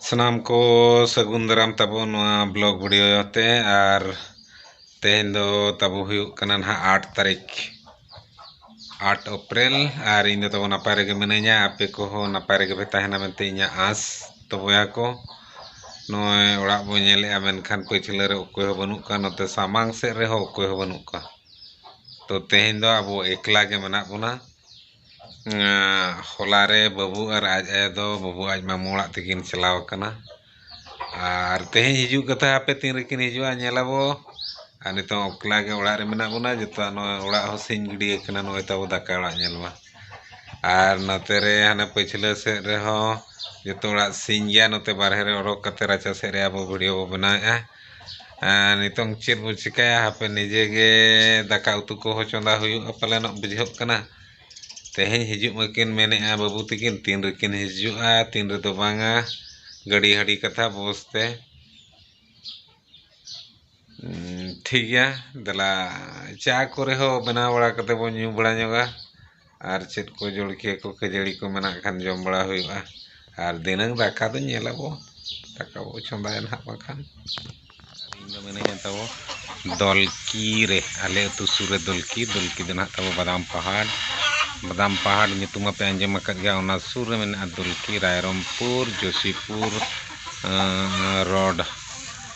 ᱥᱟᱱᱟᱢ ᱠᱚ ᱥᱟᱹᱜᱩᱱ ᱫᱟᱨᱟᱢ ᱛᱟᱵᱚ ᱱᱚᱣᱟ ᱵᱞᱚᱜ ᱵᱷᱤᱰᱤᱭᱳ ᱛᱮ ᱟᱨ ᱛᱮᱦᱮᱧ ᱫᱚ ᱛᱟᱵᱚ ᱦᱩᱭᱩᱜ ᱠᱟᱱᱟ ᱱᱟᱦᱟᱜ ᱟᱴ ᱛᱟᱹᱨᱤᱠᱷ ᱟᱴ ᱮᱯᱨᱤᱞ ᱟᱨ ᱤᱧ ᱫᱚ ᱛᱟᱵᱚ ᱱᱟᱯᱟᱭ ᱨᱮᱜᱮ ᱢᱤᱱᱟᱹᱧᱟ ᱟᱯᱮ ᱠᱚᱦᱚᱸ ᱱᱟᱯᱟᱭ ᱨᱮᱜᱮ ᱯᱮ ᱛᱟᱦᱮᱱᱟ ᱢᱮᱱᱛᱮ ᱤᱧᱟᱹᱜ ᱟᱸᱥ ᱛᱚ ᱵᱚᱭᱦᱟ ᱠᱚ ᱱᱚᱜᱼᱚᱭ ᱚᱲᱟᱜ ᱵᱚᱱ ᱧᱮᱞᱮᱫᱼᱟ ᱢᱮᱱᱠᱷᱟᱱ ᱯᱟᱹᱪᱷᱞᱟᱹ ᱨᱮ ᱚᱠᱚᱭ ᱦᱚᱸ ᱵᱟᱹᱱᱩᱜ ᱠᱚᱣᱟ ᱱᱚᱛᱮ ᱥᱟᱢᱟᱝ ᱥᱮᱫ ᱨᱮᱦᱚᱸ ᱚᱠᱚᱭ ᱦᱚᱸ ᱵᱟᱹᱱᱩᱜ ᱠᱚᱣᱟ ᱛᱚ ᱛᱮᱦᱮᱧ ᱫᱚ ᱟᱵᱚ ᱮᱠᱞᱟ ᱜᱮ ᱢᱮᱱᱟᱜ ᱵᱚᱱᱟ ᱦᱚᱞᱟ ᱨᱮ ᱵᱟᱹᱵᱩ ᱟᱨ ᱟᱡ ᱟᱭᱳ ᱫᱚ ᱵᱟᱹᱵᱩ ᱟᱡ ᱢᱟᱢᱚ ᱚᱲᱟᱜ ᱛᱮᱠᱤᱱ ᱪᱟᱞᱟᱣ ᱟᱠᱟᱱᱟ ᱟᱨ ᱛᱮᱦᱮᱧ ᱦᱤᱡᱩᱜ ᱠᱟᱛᱷᱟ ᱦᱟᱯᱮ ᱛᱤᱱ ᱨᱮᱠᱤᱱ ᱦᱤᱡᱩᱜᱼᱟ ᱧᱮᱞ ᱟᱵᱚ ᱟᱨ ᱱᱤᱛᱚᱜ ᱮᱠᱞᱟ ᱜᱮ ᱚᱲᱟᱜ ᱨᱮ ᱢᱮᱱᱟᱜ ᱵᱚᱱᱟ ᱡᱚᱛᱚᱣᱟᱜ ᱱᱚᱜᱼᱚᱭ ᱚᱲᱟᱜ ᱦᱚᱸ ᱥᱤᱧ ᱜᱤᱰᱤ ᱟᱠᱟᱱᱟ ᱱᱚᱜᱼᱚᱭ ᱛᱟᱵᱚ ᱫᱟᱠᱟ ᱚᱲᱟᱜ ᱧᱮᱞ ᱢᱟ ᱟᱨ ᱱᱚᱛᱮ ᱨᱮ ᱦᱟᱱᱮ ᱯᱟᱹᱪᱷᱞᱟᱹ ᱥᱮᱫ ᱨᱮᱦᱚᱸ ᱡᱚᱛᱚ ᱚᱲᱟᱜ ᱥᱤᱧ ᱜᱮᱭᱟ ᱱᱚᱛᱮ ᱵᱟᱨᱦᱮ ᱨᱮ ᱚᱰᱚᱠ ᱠᱟᱛᱮ ᱨᱟᱪᱟ ᱥᱮᱫ ᱨᱮ ᱟᱵᱚ ᱵᱷᱤᱰᱤᱭᱳ ᱵᱚ ᱵᱮᱱᱟᱣᱮᱜᱼᱟ ᱟᱨ ᱱᱤᱛᱳᱝ ᱪᱮᱫ ᱵᱚ ᱪᱮᱠᱟᱭᱟ ᱦᱟᱯᱮ ᱱᱤᱡᱮ ᱜᱮ ᱫᱟᱠᱟ ᱩᱛᱩ ᱠᱚᱦᱚᱸ ᱪᱚᱸᱫᱟ ᱦᱩᱭᱩᱜᱼᱟ ᱯᱟᱞᱮᱱᱚᱜ ᱵᱩᱡᱷᱟᱹᱜ ᱠᱟᱱᱟ ᱛᱮᱦᱮᱧ ᱦᱤᱡᱩᱜ ᱢᱟᱹᱠᱤᱱ ᱢᱮᱱᱮᱜᱼᱟ ᱵᱟᱹᱵᱩ ᱛᱟᱹᱠᱤᱱ ᱛᱤᱱ ᱨᱮᱠᱤᱱ ᱦᱤᱡᱩᱜᱼᱟ ᱛᱤᱱ ᱨᱮᱫᱚ ᱵᱟᱝᱟ ᱜᱟᱹᱰᱤ ᱦᱟᱹᱰᱤ ᱠᱟᱛᱷᱟ ᱵᱚᱥ ᱛᱮ ᱴᱷᱤᱠ ᱜᱮᱭᱟ ᱫᱮᱞᱟ ᱪᱟ ᱠᱚᱨᱮ ᱦᱚᱸ ᱵᱮᱱᱟᱣ ᱵᱟᱲᱟ ᱠᱟᱛᱮ ᱵᱚᱱ ᱧᱩ ᱵᱟᱲᱟ ᱧᱚᱜᱟ ᱟᱨ ᱪᱮᱫ ᱠᱚ ᱡᱚᱞᱠᱷᱤᱭᱟᱹ ᱠᱚ ᱠᱷᱟᱹᱡᱟᱹᱲᱤ ᱠᱚ ᱢᱮᱱᱟᱜ ᱠᱷᱟᱱ ᱡᱚᱢ ᱵᱟᱲᱟ ᱦᱩᱭᱩᱜᱼᱟ ᱟᱨ ᱫᱷᱤᱱᱟᱹᱝ ᱫᱟᱠᱟ ᱫᱚ ᱧᱮᱞ ᱟᱵᱚ ᱫᱟᱠᱟ ᱵᱚ ᱪᱚᱸᱫᱟᱭᱟ ᱱᱟᱦᱟᱜ ᱵᱟᱠᱷᱟᱱ ᱤᱧ ᱫᱚ ᱢᱤᱱᱟᱹᱧᱟ ᱛᱟᱵᱚ ᱫᱚᱞᱠᱤ ᱨᱮ ᱟᱞᱮ ᱟᱹᱛᱩ ᱥᱩᱨ ᱨᱮ ᱫᱚᱞᱠᱤ ᱫᱚᱞᱠᱤ ᱫᱚ ᱱᱟᱦᱟᱜ ᱛᱟᱵᱚ ᱵᱟᱫᱟᱢ ᱯᱟᱦᱟᱲ ᱵᱟᱫᱟᱢ ᱯᱟᱦᱟᱲ ᱧᱩᱛᱩᱢ ᱢᱟᱯᱮ ᱟᱸᱡᱚᱢ ᱟᱠᱟᱫ ᱜᱮᱭᱟ ᱚᱱᱟ ᱥᱩᱨ ᱨᱮ ᱢᱮᱱᱟᱜᱼᱟ ᱫᱚᱞᱠᱤ ᱨᱟᱭᱨᱚᱝᱯᱩᱨ ᱡᱳᱥᱤᱯᱩᱨ ᱨᱳᱰ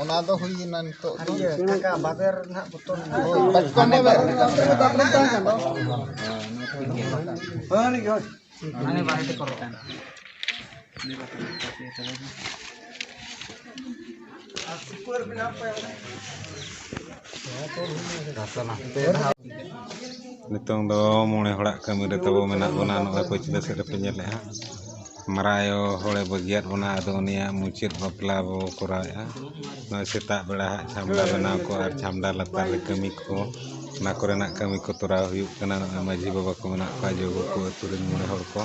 ᱚᱱᱟ ᱫᱚ ᱦᱩᱭᱮᱱᱟ ᱱᱤᱛᱚᱜ ᱫᱚ ᱵᱟᱵᱮᱨ ᱱᱟᱜ ᱵᱚᱛᱚᱨ ᱱᱤᱛᱚᱝ ᱫᱚ ᱢᱚᱬᱮ ᱦᱚᱲᱟᱜ ᱠᱟᱹᱢᱤ ᱨᱮ ᱛᱟᱵᱚ ᱢᱮᱱᱟᱜ ᱵᱚᱱᱟ ᱱᱚᱜᱼᱚᱭ ᱯᱟᱹᱪᱷᱞᱟᱹ ᱥᱮᱫ ᱨᱮᱯᱮ ᱧᱮᱞᱮᱫᱼᱟ ᱢᱟᱨᱟᱝ ᱟᱭᱳ ᱦᱚᱲᱮ ᱵᱟᱹᱜᱤᱭᱟᱫ ᱵᱚᱱᱟ ᱟᱫᱚ ᱩᱱᱤᱭᱟᱜ ᱢᱩᱪᱟᱹᱫ ᱵᱟᱯᱞᱟ ᱵᱚ ᱠᱚᱨᱟᱣᱮᱫᱼᱟ ᱱᱚᱜᱼᱚᱭ ᱥᱮᱛᱟᱜ ᱵᱮᱲᱟ ᱦᱟᱸᱜ ᱪᱷᱟᱢᱰᱟ ᱵᱮᱱᱟᱣ ᱠᱚ ᱟᱨ ᱪᱷᱟᱢᱰᱟ ᱞᱟᱛᱟᱨ ᱨᱮ ᱠᱟᱹᱢᱤ ᱠᱚ ᱚᱱᱟ ᱠᱚᱨᱮᱱᱟᱜ ᱠᱟᱹᱢᱤ ᱠᱚ ᱛᱚᱨᱟᱣ ᱦᱩᱭᱩᱜ ᱠᱟᱱᱟ ᱱᱚᱜᱼᱚᱭ ᱢᱟᱺᱡᱷᱤ ᱵᱟᱵᱟ ᱠᱚ ᱢᱮᱱᱟᱜ ᱠᱚᱣᱟ ᱡᱚᱜᱚ ᱠᱚ ᱟᱹᱛᱩ ᱨᱮᱱ ᱢᱚᱬᱮ ᱦᱚᱲ ᱠᱚ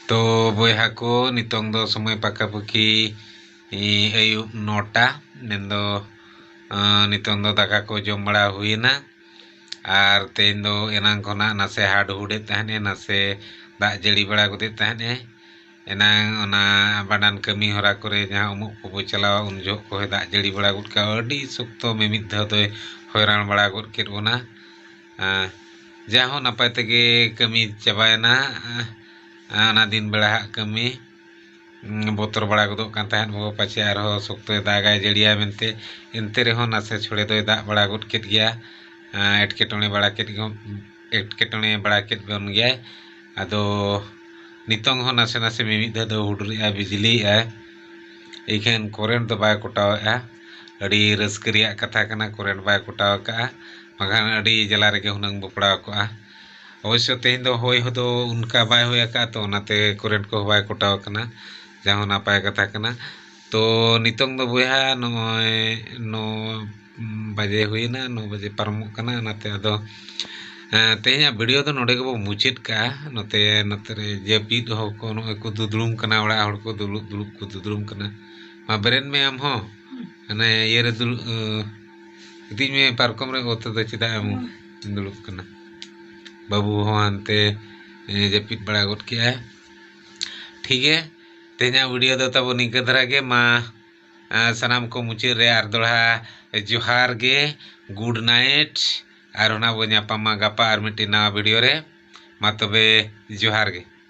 ᱛᱚ ᱵᱚᱭᱦᱟ ᱠᱚ ᱱᱤᱛᱚᱝ ᱫᱚ ᱥᱚᱢᱚᱭ ᱯᱟᱠᱟᱯᱟᱹᱠᱤ ᱟᱹᱭᱩᱵ ᱱᱚᱴᱟ ᱢᱮᱱᱫᱚ ᱱᱤᱛᱚᱝ ᱫᱚ ᱫᱟᱠᱟ ᱠᱚ ᱡᱚᱢ ᱵᱟᱲᱟ ᱦᱩᱭᱮᱱᱟ ᱟᱨ ᱛᱮᱦᱮᱧ ᱫᱚ ᱮᱱᱟᱝ ᱠᱷᱚᱱᱟᱜ ᱱᱟᱥᱮ ᱦᱟᱰᱦᱩᱰᱮᱫ ᱛᱟᱦᱮᱸᱫ ᱮ ᱱᱟᱥᱮ ᱫᱟᱜ ᱡᱟᱹᱲᱤ ᱵᱟᱲᱟ ᱜᱚᱫᱮᱫ ᱛᱟᱦᱮᱸᱫ ᱮ ᱮᱱᱟᱝ ᱚᱱᱟ ᱵᱷᱟᱸᱰᱟᱱ ᱠᱟᱹᱢᱤ ᱦᱚᱨᱟ ᱠᱚᱨᱮ ᱡᱟᱦᱟᱸ ᱩᱢᱩᱜ ᱠᱚᱵᱚ ᱪᱟᱞᱟᱣᱟ ᱩᱱ ᱡᱚᱦᱚᱜ ᱠᱚ ᱦᱚᱭ ᱫᱟᱜ ᱡᱟᱹᱲᱤ ᱵᱟᱲᱟ ᱜᱚᱫ ᱠᱟᱜᱼᱟ ᱟᱹᱰᱤ ᱥᱚᱠᱛᱚ ᱢᱤᱢᱤᱫ ᱫᱷᱟᱣ ᱫᱚᱭ ᱦᱚᱭᱨᱟᱱ ᱵᱟᱲᱟ ᱜᱚᱫ ᱠᱮᱫ ᱵᱚᱱᱟ ᱡᱟᱭᱦᱳᱠ ᱱᱟᱯᱟᱭ ᱛᱮᱜᱮ ᱠᱟᱹᱢᱤ ᱪᱟᱵᱟᱭᱮᱱᱟ ᱚᱱᱟ ᱫᱤᱱ ᱵᱮᱲᱟ ᱦᱟᱸᱜ ᱠᱟᱹᱢᱤ ᱵᱚᱛᱚᱨ ᱵᱟᱲᱟ ᱜᱚᱫᱚᱜ ᱠᱟᱱ ᱛᱟᱦᱮᱸᱫ ᱵᱚ ᱯᱟᱪᱮ ᱟᱨᱦᱚᱸ ᱥᱚᱠᱛᱚᱭ ᱫᱟᱜᱟᱭ ᱡᱟᱹᱲᱤᱭᱟᱭ ᱢᱮᱱᱛᱮ ᱮᱱᱛᱮ ᱨᱮᱦᱚᱸ ᱱᱟᱥᱮ ᱪᱷᱚᱲᱮ ᱫᱚᱭ ᱫᱟᱜ ᱵᱟᱲᱟ ᱜᱚᱫ ᱠᱮᱫ ᱜᱮᱭᱟ ᱮᱴᱠᱮᱴᱚᱬᱮ ᱵᱟᱲᱟ ᱠᱮᱫ ᱜᱮ ᱮᱴᱠᱮᱴᱚᱬᱮ ᱵᱟᱲᱟ ᱠᱮᱫ ᱵᱚᱱ ᱜᱮᱭᱟᱭ ᱟᱫᱚ ᱱᱤᱛᱚᱝ ᱦᱚᱸ ᱱᱟᱥᱮ ᱱᱟᱥᱮ ᱢᱤᱢᱤᱫ ᱫᱷᱟᱣ ᱫᱚ ᱦᱩᱰᱩᱨᱮᱜᱼᱟᱭ ᱵᱤᱡᱽᱞᱤᱭᱮᱜᱼᱟᱭ ᱤᱠᱷᱟᱹᱱ ᱠᱚᱨᱮᱱᱴ ᱫᱚ ᱵᱟᱭ ᱠᱚᱴᱟᱣᱮᱜᱼᱟ ᱟᱹᱰᱤ ᱨᱟᱹᱥᱠᱟᱹ ᱨᱮᱭᱟᱜ ᱠᱟᱛᱷᱟ ᱠᱟᱱᱟ ᱠᱚᱨᱮᱱᱴ ᱵᱟᱭ ᱠᱚᱴᱟᱣ ᱠᱟᱜᱼᱟ ᱵᱟᱝᱠᱷᱟᱱ ᱟᱹᱰᱤ ᱡᱟᱞᱟ ᱨᱮᱜᱮ ᱦᱩᱱᱟᱹᱝ ᱵᱚ ᱯᱟᱲᱟᱣ ᱠᱚᱜᱼᱟ ᱚᱵᱚᱥᱥᱚ ᱛᱮᱦᱮᱧ ᱫᱚ ᱦᱚᱭ ᱦᱚᱸ ᱫᱚ ᱚᱱᱠᱟ ᱵᱟᱭ ᱦᱚᱭ ᱟᱠᱟᱫᱼᱟ ᱛᱚ ᱚᱱᱟᱛᱮ ᱠᱟᱨᱮᱱᱴ ᱠᱚᱦᱚᱸ ᱵᱟᱭ ᱠᱚᱴᱟᱣ ᱠᱟᱱᱟ ᱡᱟ ᱦᱚᱸ ᱱᱟᱯᱟᱭ ᱠᱟᱛᱷᱟ ᱠᱟᱱᱟ ᱛᱚ ᱱᱤᱛᱚᱝ ᱫᱚ ᱵᱚᱭᱦᱟ ᱱᱚᱜᱼᱚᱭ ᱱᱚ ᱵᱟᱡᱮ ᱦᱩᱭᱮᱱᱟ ᱱᱚ ᱵᱟᱡᱮ ᱯᱟᱨᱚᱢᱚᱜ ᱠᱟᱱᱟ ᱚᱱᱟᱛᱮ ᱟᱫᱚ ᱛᱮᱦᱮᱧᱟᱜ ᱵᱷᱤᱰᱤᱭᱳ ᱫᱚ ᱱᱚᱰᱮ ᱜᱮᱵᱚ ᱢᱩᱪᱟᱹᱫ ᱠᱟᱜᱼᱟ ᱱᱚᱛᱮ ᱱᱚᱛᱮ ᱨᱮ ᱡᱟᱹᱯᱤᱫ ᱦᱚᱲ ᱠᱚ ᱱᱚᱜᱼᱚᱭ ᱠᱚ ᱫᱩᱫᱽᱲᱩᱢ ᱠᱟᱱᱟ ᱚᱲᱟᱜ ᱦᱚᱲ ᱠᱚ ᱫᱩᱲᱩᱵ ᱫᱩᱲᱩᱵ ᱠᱚ ᱫᱩᱫᱽᱲᱩᱢ ᱠᱟᱱᱟ ᱢᱟ ᱵᱮᱨᱮᱫ ᱢᱮ ᱟᱢ ᱦᱚᱸ ᱦᱟᱱᱮ ᱤᱭᱟᱹ ᱨᱮ ᱫᱩᱲᱩᱵ ᱤᱫᱤᱧ ᱢᱮ ᱯᱟᱨᱠᱚᱢ ᱨᱮ ᱚᱛ ᱨᱮᱫᱚ ᱪᱮᱫᱟᱜ ᱮᱢ ᱫᱩᱲᱩᱵ ᱠᱟᱱᱟ ᱵᱟᱹᱵᱩ ᱦᱚᱸ ᱦᱟᱱᱛᱮ ᱡᱟᱹᱯᱤᱫ ᱵᱟᱲᱟ ᱜᱚᱫ ᱠᱮᱜᱼᱟᱭ ᱴᱷᱤᱠ ᱜᱮ ᱛᱮᱦᱮᱧᱟᱜ ᱵᱷᱤᱰᱤᱭᱳ ᱫᱚ ᱛᱟᱵᱚ ᱱᱤᱝᱠᱟᱹ ᱫᱷᱟᱨᱟ ᱜᱮ ᱢᱟ ᱥᱟᱱᱟᱢ ᱠᱚ ᱢᱩᱪᱟᱹᱫ ᱨᱮ ᱟᱨ ᱫᱚᱲᱦᱟ ᱡᱚᱦᱟᱨ ᱜᱮ ᱜᱩᱰ ᱱᱟᱭᱤᱴ ᱟᱨ ᱚᱱᱟ ᱵᱚ ᱧᱟᱯᱟᱢᱟ ᱜᱟᱯᱟ ᱟᱨ ᱢᱤᱫᱴᱤᱡ ᱱᱟᱣᱟ ᱵᱷᱤᱰᱤᱭᱳ ᱨᱮ ᱢᱟ ᱛᱚᱵᱮ ᱡᱚᱦᱟᱨ ᱜᱮ